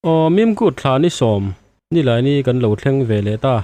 Aww mimkut thla ni sawm nilai ni kan lo thleng ve leh ta.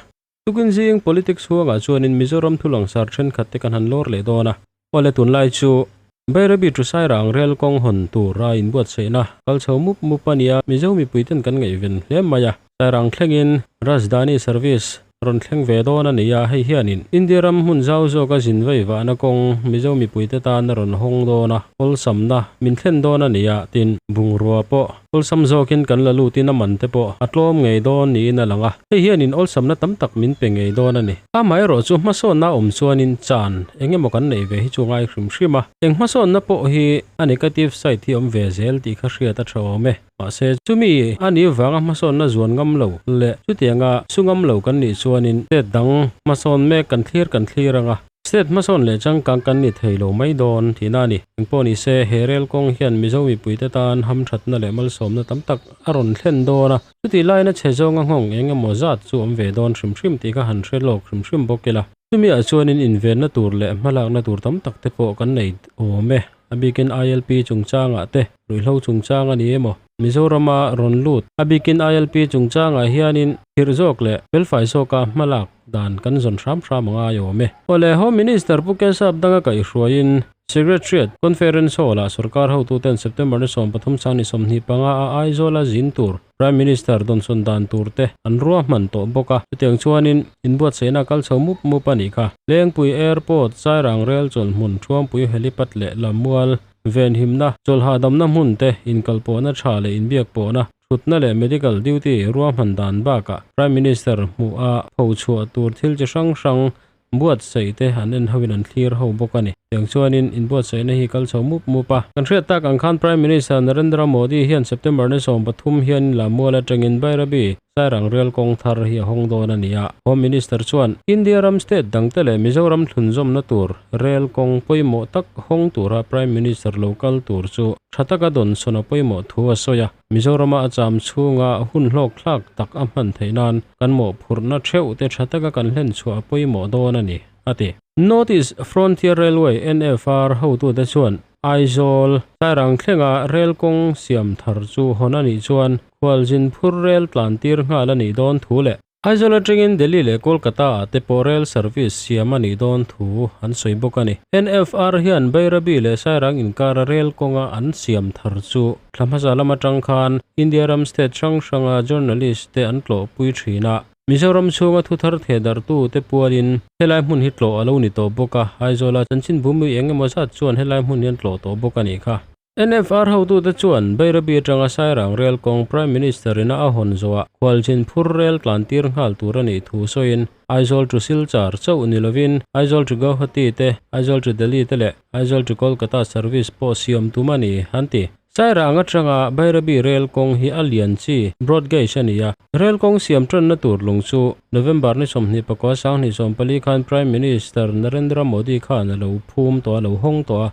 Tukin zing politics huangah chuanin Mizoram thulangsar thenkhat te kan han lawr leh dawn a. Awle tunlai chu Bairabi Tusairang rel kawng hawn tura inbuatsaihna kal chho mup mup a nia. Mizo mipui ten kan ngaihven hle mai a. Sairang thlengin Rajdhani service rawn thleng ve dawn a nia. Hei hianin India ram hmun zau zawka zin vaivahna kawng Mizo mipuite tan a rawn hawng dawn a, kawlsamna min thlen dawn a nia, tin bungrua pawh Awlsam zawkin kan la lutin a man te pawh a tlawm ngei dawn niin a lang a, hei hianin awlsamna tam tak min pe ngei dawn a ni. Amaherawh chu hmasawnna awm chuanin chan eng emaw kan neih ve hi chu a ngai hrim hrim a, eng hmasawnna pawh hi a negative side hi awm ve zel tih kha hriat a tha awm e. Mahse, chumi a nih vanga hmasawnna zuan ngam lo leh chutianga su ngam lo kan nih chuanin state dang hmasawn mek kan thlir kan thlir ang a. State hmasawn leh changkang kan ni thei lo mai dawn tihna a ni. Engpawh ni se, he rel kawng hian Mizo mipuite tan ham thatna leh malsawmna tam tak a rawn thlen dawn a. Chutih laiin a chhe zawnga nghawng eng emaw zat chu awm ve dawn hrim hrim tih kha han hre lawk hrim hrim bawk ila. Chumiah chuanin invenna tur leh hmalakna tur tam tak te pawh kan nei awm e. A bikin ILP chungchangah te, ruihhlo chungchang a ni emaw, Mizorama rawn lut a bikin ILP chungchangah hianin thirh zawk leh fel fai zawka hmalak, dan kan zawn hram hram a ngai awm e. Awle, Home Minister Pu Ken Saab danga kaihhruaiin Secretariat Conference Hall ah sawrkar hotuten September ni sawm pathum sang ni sawmhnih panga a Aizawla zin tur Prime Minister dawnsawn dan tur te an ruahman tawh bawk a. Chutiang chuanin inbuatsaihna a kal chho mup mup a nih kha. Lengpui Airport, Chairang Rail Chawlhmun, Thruampui Helipad leh Lamual Venhimna chawlh hahdamna hmun te inkalpawhna tha leh inbiak pawhna, Thutna leh Medical Duty ruahman dan bakah Prime Minister hmuh a pho chhuah tur thil chi hrang hrang buatsaih te an en ho in an thlir ho bawk a ni. Tiang chuanin inbuatsaihna hi kal chho mup mup a. Kan hriat tak ang khan Prime Minister Narendra Modi hian September ni sawm pathum hianin Lammual atangin Bhairabi, Sairang Rial kawng thar, hi a hawng dawn a ni a. Home Minister chuan India ram state dangte leh Mizoram thlun zawmna tur Rel kawng pawimawh tak hawng tura Prime Minister lo kal tur chu tha taka dawn sawna pawimawh thu a sawi a, Mizorama a cham chhunga hun hlawk thlak tak a hman theih nan kan mawhphurhna theuh te tha taka kan hlen chhuah pawimawh dawn a ni, a ti. North East Frontier Railway, NFR, hotu te chuan Aizawl, Sairang thlenga rel kawng siam thar chu hawn a nih chuan khualzin phur rel tlan tir nghal a nih dawn thu leh Aizawl atangin Delhi leh Kolkata-ah te pawh rail service siam a nih dawn thu an sawi bawk a ni. NFR hian Bairabi leh Sairang inkara rail kawnga an siam thar chu thla hmasa lam atang khan India ram state hrang hranga journalist te an tlawhpui thin a. Mizoram chhunga thu thar theh dartu te pualin helai hmun hi tlawh a lo ni tawh bawk a, Aizawla Chanchinbhumi eng emaw zat chuan helai hmun hi an tlawh tawh bawk a nih kha. NFR hotute chuan Bairabi atanga Sairang rel kawng Prime Minister ina a hawn zawhah Khualzin phur rel tlantir nghal tur a nih thu sawiin Aizawl to Silchar chauh ni lovin Aizawl to Guwahati te, Aizawl to Delhi te leh Aizawl to Kolkata service pawh siam tum a ni, an ti. Sairang atanga Bairabi rel kawng hi a lian chi broad gauge a ni a, rel kawng siam tanna tur lung chu November ni sawmhnih pakua Sanghnih sawmpali khan Prime Minister Narendra Modi khan a lo phum tawh a, a lo hawng tawh a.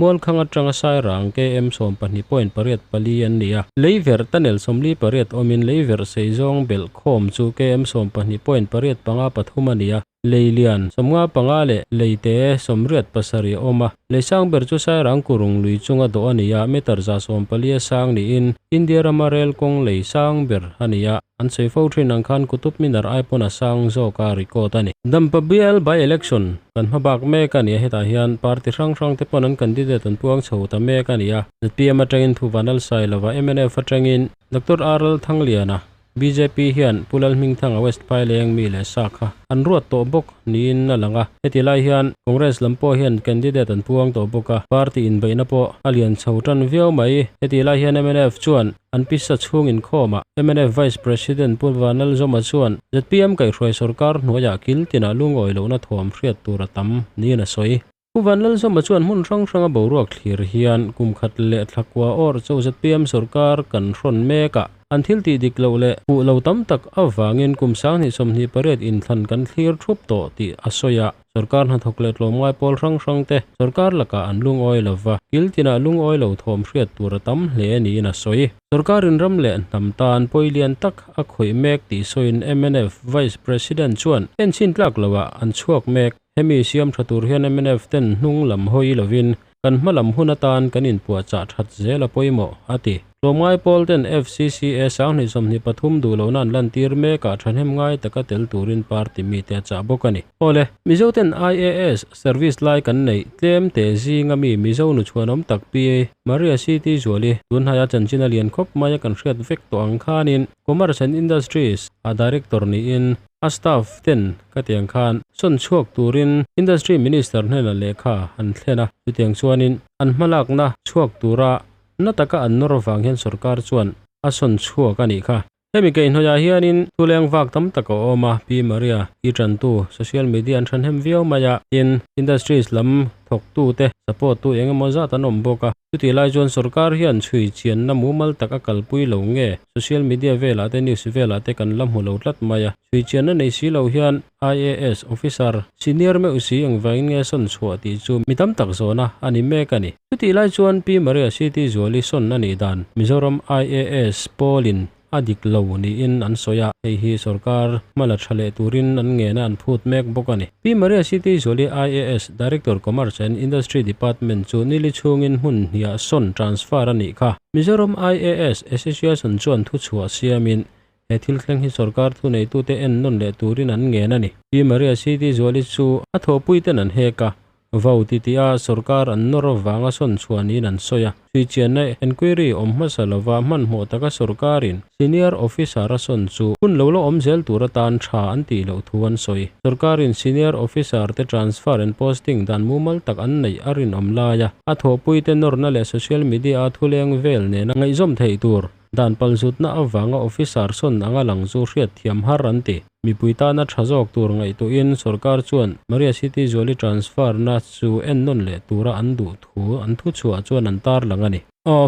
Muankhang atanga Sairang KM sawm pahnih point pariat pali an ni a. Leiver ta nel sawmli pariat awmin Leiver Seizawng belh khawm chu KM sawm pahnih point pariat panga pathum a ni a. Leilian sawm nga panga leh Leite sawm riat pasarih a awm a. Leisang ber chu Sairang Kurung lui chunga dawh a ni a, meter za sawm palia sang niin India rama rel kawng lei sang ber a ni a. An sawi fo thin ang khan kutup minar ai pawn a sang zawk a record a ni. Dampa bial by election kan hma bak mek a nia hetah hian party hrang hrang te pawn an candidate an puang chho ta mek a nia Npm atangin Phuvan Lalsai lova mnf atangin Doctor R Lalthangliana bjp hian Pu Lalhmingthanga West Phai Leng mi leh sa kha an ruat tawh bawk niin a lang a heti lai hian Congress lam pawh hian candidate an puang tawh bawk a party inbeihna pawh a lian chho tan viau mai heti lai hian mnf chuan An pisa chhung inkhawmah mnf Vice President Pu Vanlalzawma chuan zpm kaihhruai sawrkar hnuaiah kil tinah lungawi lohna thuam hriat tur a tam niin a sawi. Pu Vanlalzawma chuan hmun hrang hranga boruak thlir hian kum khat leh thla kua awrh chauh zpm sawrkar kan hrawn mekah an thil tih dik loh leh hmuh lo tam tak avangin kum sang hnih sawm hnih pariat in thlan kan thlir thup tawh tih a sawi a. Sorkar hnathawk leh tlawmngai pawl hrang hrang te sorkar lakah an lungawi lo va, kil tinah lungawi lo thawm hriat tur a tam hle a niin a sawi. Sorkar rinram leh hnam tan pawi lian tak a khawih mek tih sawiin mnf Vice President chuan en chhin tlak lohah an chhuak mek. Hemi siamtha tur hian mnf ten hnung lam hawi lovin kan hma lam hun atan kan inpuahchah that zel a pawimawh, a ti. Tlawmngai pawl ten FCCA sanghnih sawmhnih pathum duh lohna an lantir mek a thahnem ngai taka tel turin party mite a chah bawk a ni. Awle, Mizo ten IAS service lai kan neih tlem teh zing a mi Mizo nu chhuanawm tak P A Maria Siti Zuali tunhaia chanchin a lian khawp mai a kan hriat vek tawh ang khanin Commerce and Industries a Director niin A staff ten ka tiang khan sawn chhuak turin Industry Minister hnenah lehkha an thlen a, chutiang chuanin an hmalakna chhuak tura na taka an nawr vang hian sorkar chuan a sawn chhuak a nih kha. Hemi keihnawihah hianin thuleng vak tam tak a awm a, Pi Maria i tantu social media an thanhem viau mai a, tin Industries lam thawktute, support tu engemaw zat an awm bawk a. Chutih lai chuan sorkar hian chhui chianna mumal tak a kalpui lo nge? Social media velah te news velah te kan la hmu lo tlat mai a. Chhui chianna nei si lo hian IAS officer senior meuh u si ang vangin nge sawn chhuah tih chu mi tam tak zawna a ni mek a ni. Chutih lai chuan Pi Maria City Zuali sawn a nih dan Mizoram IAS Paulin a dik lo niin an sawi a, hei hi sorkar hma la tha leh turin an ngena an phut mek bawk a ni. Pi Maria Siti Zoli IAS, Director Commerce and Industry Department chu nili chhungin hmun hniah sawn, transfer, a nih kha. Mizoram IAS Association chuan thu chhuah siamin he thil thleng hi sorkar thu neitute en nawn leh turin an ngen a ni. Pi Maria Siti Zoli chu a thawhpuite'n an hek a, Vote i tia sorkar an nawr vanga sawn chhuah niin an sawi a. Hrichianna enquiry awm hmasa lova hmanhmawh taka sorkarin senior officer-a sawn chu hun lo la awm zel tur atan tha an tih loh thu an sawi. Sorkarin senior officer-te transfer and posting dan mumal tak an neih a rinawm lai a, a thawhpuite nawrna leh social media-a thuleng vel nena ngaihzawm theih tur, Dan pal zutna avanga officer sawn anga lang chu hriat thiam har an ti. Mipui tana tha zawk tur ngaihtuhin sorkar chuan Maria City zuali transfer na chu en nawn leh tura an duh thu an thu chhuah chuan an tarlang a ni.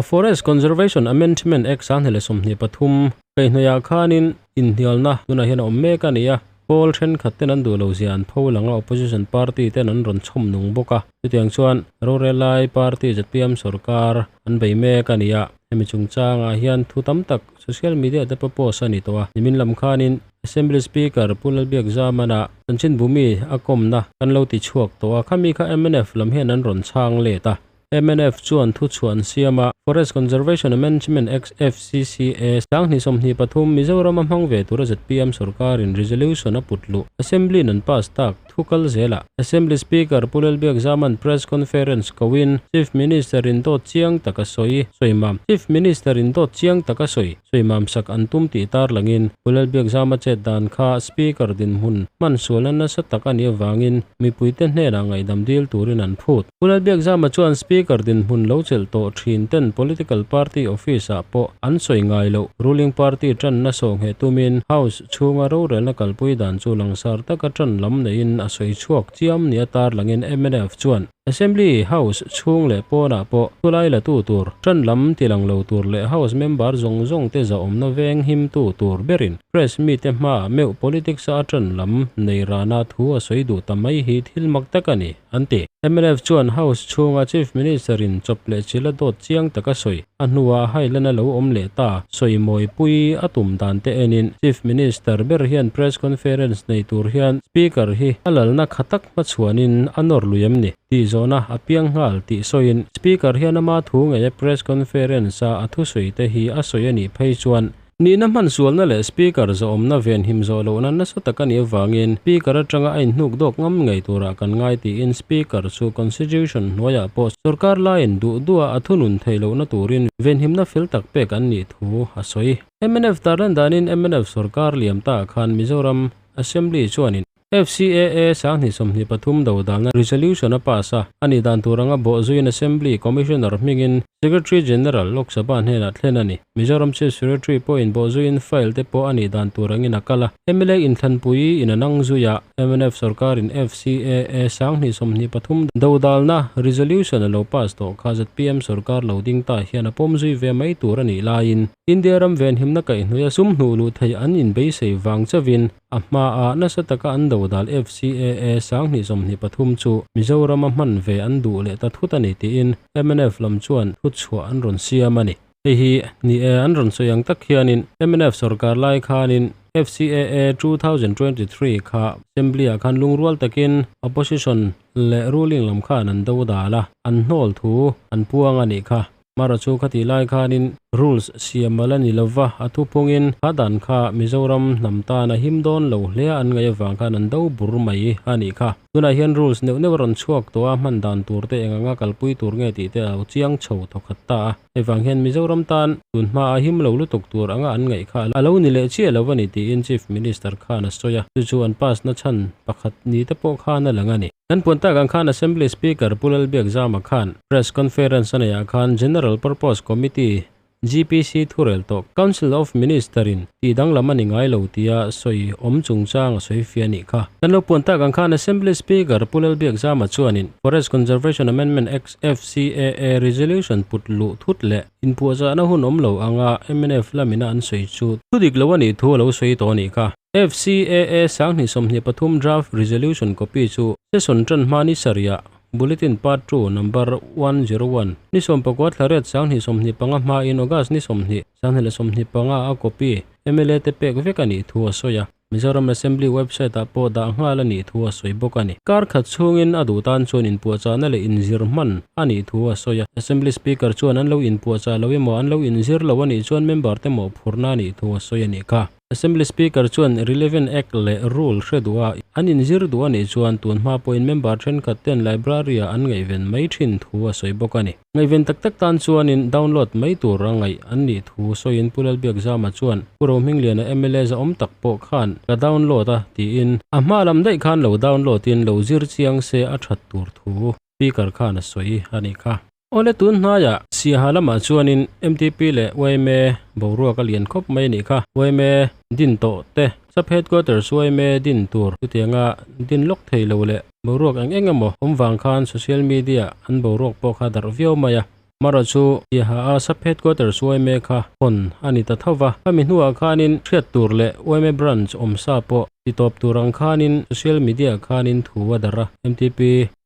Forest Conservation Amendment Act sang hneleh sawmhnih pathum, keihnawihah khanin inhnialna tunah hian a awm mek a ni a, Pawl thenkhat ten an duh lo zia an pho lang a, opposition party ten an rawn chhawm nung bawk a. Chutiang chuan Rorelai party zatiam sawrkar an bei mek a nia, hemi chungchangah hian thu tam tak social media te pawh post a ni tawh a. Nimin lam khanin Assembly Speaker Pu Lalbiakzamana Chanchinbumi a kawmna kan lo ti chhuak tawh a, khami kha mnf lam hian an rawn chhang let a. MNF chuan thu chhuah an siam a, Forest Conservation and Management Act, FCCA, Sanghnih sawmhnih pathum, Mizoram a hmang ve tura zpm sawrkarin resolution a put luh, Assembly-in an pass tak, thu kal zelah Assembly Speaker Pu Lalbiakzaman press conference kohin Chief Minister-in dawt chiang taka sawi sawi mam Chief Minister-in dawt chiang taka sawi sawi mamsak an tum tih tar langin Pu Lalbiakzama chet dan kha Speaker dinhmun hmansualna nasa tak a nih avangin mipuite hnenah ngaihdam dil turin an phut. Khulal Biakzama chuan Speaker dinhmun lo chelh tawh thin ten Political Party Office ah pawh an sawi ngai loh, Ruling Party tanna sawhnghe tumin House chhunga rorelna kalpui dan chu langsar taka tan lam neiin a sawi chhuak chiam nia tarlangin mnf chuan Assembly, House, chhung leh pawnah pawh Khulai latu tur, tan lam tilang lo tur leh House Member zawng zawngte zahawmna veng himtu tur berin Press Meet-te hmaah meuh Politics-a a tan lam nei rana thu a sawi duh ta mai hi thil mak tak a ni. an ti. Mlf chuan House chhunga Chief Minister in chawp leh chil a dawt chiang taka sawi. A hnua hailan a lo awm leh ta, sawi mawi pui a tum dan te enin Chief Minister ber hian Press Conference nei tur hian Speaker hi a lalna kha tak hmachhuanin a nawr lui em ni? tih zawhna a piang nghal tih sawiin Speaker hian ama thu ngeia Press Conference-a a thusawi te hi a sawi a nih phei chuan Nihna hman sualna leh Speaker zawhawmna ven him zawh lohna nasa tak a nih avangin Speaker atanga a innuk dawk ngam ngei turah kan ngai tiin Speaker chu Constitution hnuaiah pawh sorkar laiin duh duah a thunun theih lohna turin venhimna fel tak pek an nih thu a sawi. Mnf tarlan danin mnf sorkar liam ta khan Mizoram Assembly chuanin. FCAA Sanghnih sawmhnih pathum do dana resolution a pass a, a nih dan tur anga bawhzuiin Assembly Commissioner hmingin Secretary General Lok Sabha hnenah thlen a ni. Mizoram Chief Secretary pawhin bawhzuiin file te pawh a nih dan tur angin a kal a. Hemilai inthlanpui in a nang zuia mnf sawrkarin FCAA Sanghnih sawmhnih pathum do dalna resolution a lo pass tawh kha zpm sawrkar lo ding tah hian a pawm zui ve mai tur a nih laiin India ram venhimna kaihhnuiha sum hnuh luh theih an inbeisei vang chauhin A hmaah nasa taka an do dal FCAA sanghnih sawmhnih pathum chu Mizorama hman ve an duh leh ta thut a ni tiin MNF lam chuan thutchhuah an rawn siam a ni. Hei hi ni e, an rawn sawi ang tak hianin MNF sawrkar lai khanin FCAA two thousand twenty three kha Assembly-ah khan lungrual takin Opposition leh Ruling lam khan an do dal a, an hnawl thu an puang a nih kha. Mara chu ka tih lai khanin rules siam a la ni lo va, a thu pawngin a dan kha Mizoram hnam tan a him dawn lo hle a, an ngaih avang khan an do bur mai a nih kha. Tunah hian rules neuh neuh a rawn chhuak tawh a, hman dan tur te eng ang a, kalpui tur nge tih te a lo chiang chho thaw khat ta a, hevang hian Mizoram tan tun hma a him lo lutuk tur anga an ngaih kha a lo ni leh chiah lo a ni tiin Chief Minister khan a sawi a, chu chu an pass na chhan pakhat ni te pawh khan a lang a ni. Kan puan tak ang khan Assembly Speaker Pu Lalbiak Zama khan Press Conference a nei ah khan General Purpose Committee, GPC, thurel tawh Council of Minister in tih dang lam a ni ngai lo tia sawi awm chungchang a sawi fiah anih kha. Kan lo puan tak ang khan Assembly Speaker Pu Lalbiak Zama chuanin Forest Conservation Amendment Act, FCAA, Resolution put luh thut leh inpuahzahna hun awm lo anga mnf lamin a an sawi chu thudik lo a nih thu a lo sawi tawh anih kha. FCAA Sanghnih sawmhnih pathum Draft Resolution copy chu session tan hma ni sarih ah, Bulletin Part Two, Number one zero one, ni sawm pakua thla ret Sanghnih sawmhnih panga hmain August ni sawmhnih, Sanghnih leh sawmhnih panga a copy mla te pek vek a nih thu a sawi a. Mizoram Assembly website ah pawh dah nghal a nih thu a sawi bawk a ni. Kar khat chhungin a duh tan chuan inpuahchahna leh inzir hman a nih thu a sawi a. Assembly Speaker chuan an lo inpuahchah lo emaw an lo inzir lo a nih chuan member te mawhphurhna a nih thu a sawi a ni kha. Assembly Speaker chuan relevant Act leh Rule hre duh a an inzir duh a nih chuan tunhma pawhin member thenkhat ten Library-ah an ngaihven mai thin thu a sawi bawk a ni. Ngaihven tak tak tan chuanin download mai tur a ngaih an nih thu sawiin Pu Lalbiak Zama chuan Pu Rohmingliana mla zaawm tak pawh khan ka download a tiin a hma lam daih khan lo download in lo zir chiang se a that tur thu Speaker khan a sawi a nih kha. Awle tun hnaia Siaha lamah chuanin mtp leh yma boruak a lian khawp mai a nih kha. Yma din tawh te, Sub Headquarters yma din tur chutianga din lawk thei lo leh boruak eng eng emaw awm vang khan social media an boruak pawh kha darh viau mai a. Mara chu biaha a sub headquarters uaime kha hawn a ni ta tho va, khami hnuah khanin hriat tur leh uaime branch awm sa pawh ti tawp tur ang khanin social media khanin thu a darh a, mtp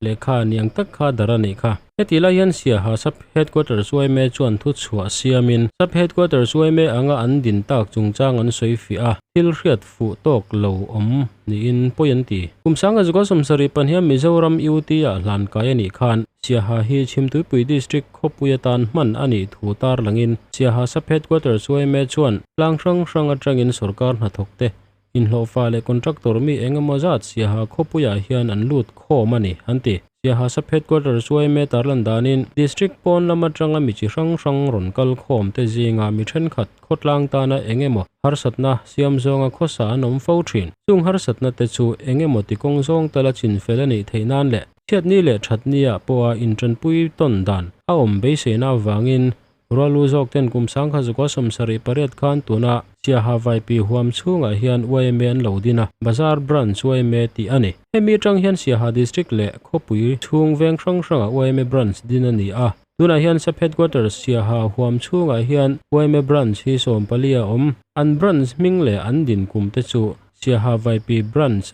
lehkha niang tak kha darh a nih kha. Heti lai hian Siaha sub headquarters uaime chuan thu chhuah siamin sub headquarters uaime anga an din tak chungchang an sawi fiah a, thil hriat. fuh tawk lo awm niin pawi an ti. Kum sanga Zuka Samsari pahniha Mizoram UT-a hlan kai a nih khan Siaha hi Chhimtuipui District khawpui atan hman a nih thu tar langin Siaha Sub Headquarters UMA chuan tlang hrang hrang atangin sawrkar hnathawk te, inhlawhfa leh contractor mi engemaw zat Siaha khawpuiah hian an lut khawm a ni, an ti. Siahasa Headquarter chu aim e tar lan danin District pawn lam atanga mi chi hrang hrang rawn kal khawm te zingah mi thenkhat khawtlang tana eng emaw harsatna siam zawnga khawsa an awm fo thin. Chung harsatna te chu eng emaw ti kawng zawng tala chin fel a nih theih nan leh chhiatni leh thatni ah pawha intanpui tawn dan a awm beiseina avangin Rualu zawk ten kum sang kha Zuka sawm sarih pariat khan tuna Siaha vaipi huam chhungah hian YMA an lo din a, Bazar Branch YMA tih a ni. Hemi atang hian Siaha District leh khawpui chhung veng hrang hrangah YMA Branch din a ni a. Tunah hian Sub Headquarters Siaha huam chhungah hian YMA Branch hi sawm pali a awm. An Branch hming leh an din kum te chu Siaha vaipi Branch,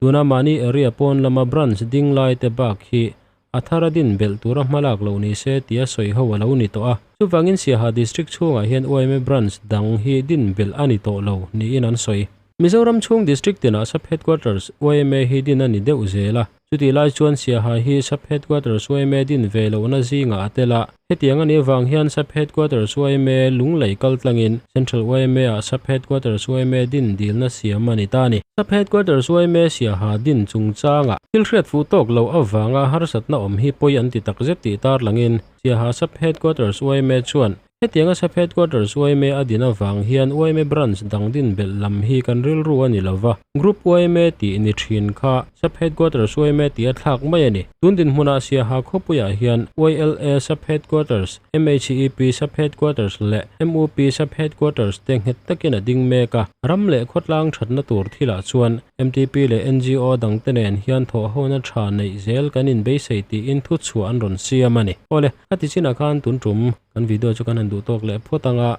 Tuna mahni area pawn lama branch ding lai te bak hi a thar a din belh tur a hma lak lo ni se tia sawi ho a lo ni tawh a. Chuvangin Siaha District chhungah hian UIMA branch dang hi din belh a ni tawh lo niin an sawi. Mizoram chhung district tinah sub headquarters UIMA hi din a ni deuh zel a. Chutih lai chuan Siaha hi sub headquarters UIMA din ve lohna zingah a tel a. Hetiang a nih avang hian Sub Headquarters yma Lunglei kaltlangin Central yma-ah Sub Headquarters yma din dilna siam a ni ta a ni. Sub Headquarters yma siaha din chungchangah thil hriat fuh tawk loh avanga harsatna awm hi pawi an ti takzet tih tarlangin siaha Sub Headquarters yma chuan Hetianga Sub Headquarters yma a din avang hian yma Branch dang din belh lam hi kan rilru a ni lo va, Group uaime tih ni thin kha sub headquarters uaime tih a thlak mai a ni. Tun dinhmuna Siaha khawpuiah hian YLA sub headquarters, MECEP sub headquarters leh MUP sub headquarters te nghet takin a ding mek a. Ram leh khawtlang thatna tur thilah chuan mtp leh NGO dang te nen hian thawhhona tha neih zel kan inbeisei tiin thu chhuah an rawn siam a ni. Awle, khatichinah khan tun tum kan video chu kan han duhtawk leh phawt ang a.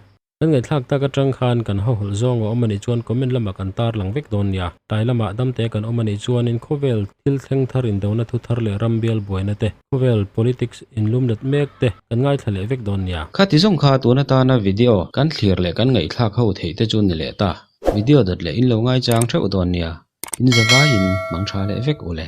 Kan ngaihthlak tak atang khan kan hahawlh zawng a awm a nih chuan comment lamah kan tarlang vek dawn nia. Tlai lamah dam te kan awm a nih chuanin khawvel thil thleng thar indona thu thar leh ram bial buaina te, khawvel politics inlum let mek te kan ngaithla leh vek dawn nia. Khati zawng kha tun atana video kan thlir leh kan ngaihthlak ho theih te chu ni leh ta. Video dat leh in lo ngaichang theuh dawn nia. In zavaiin hmang tha leh vek u le.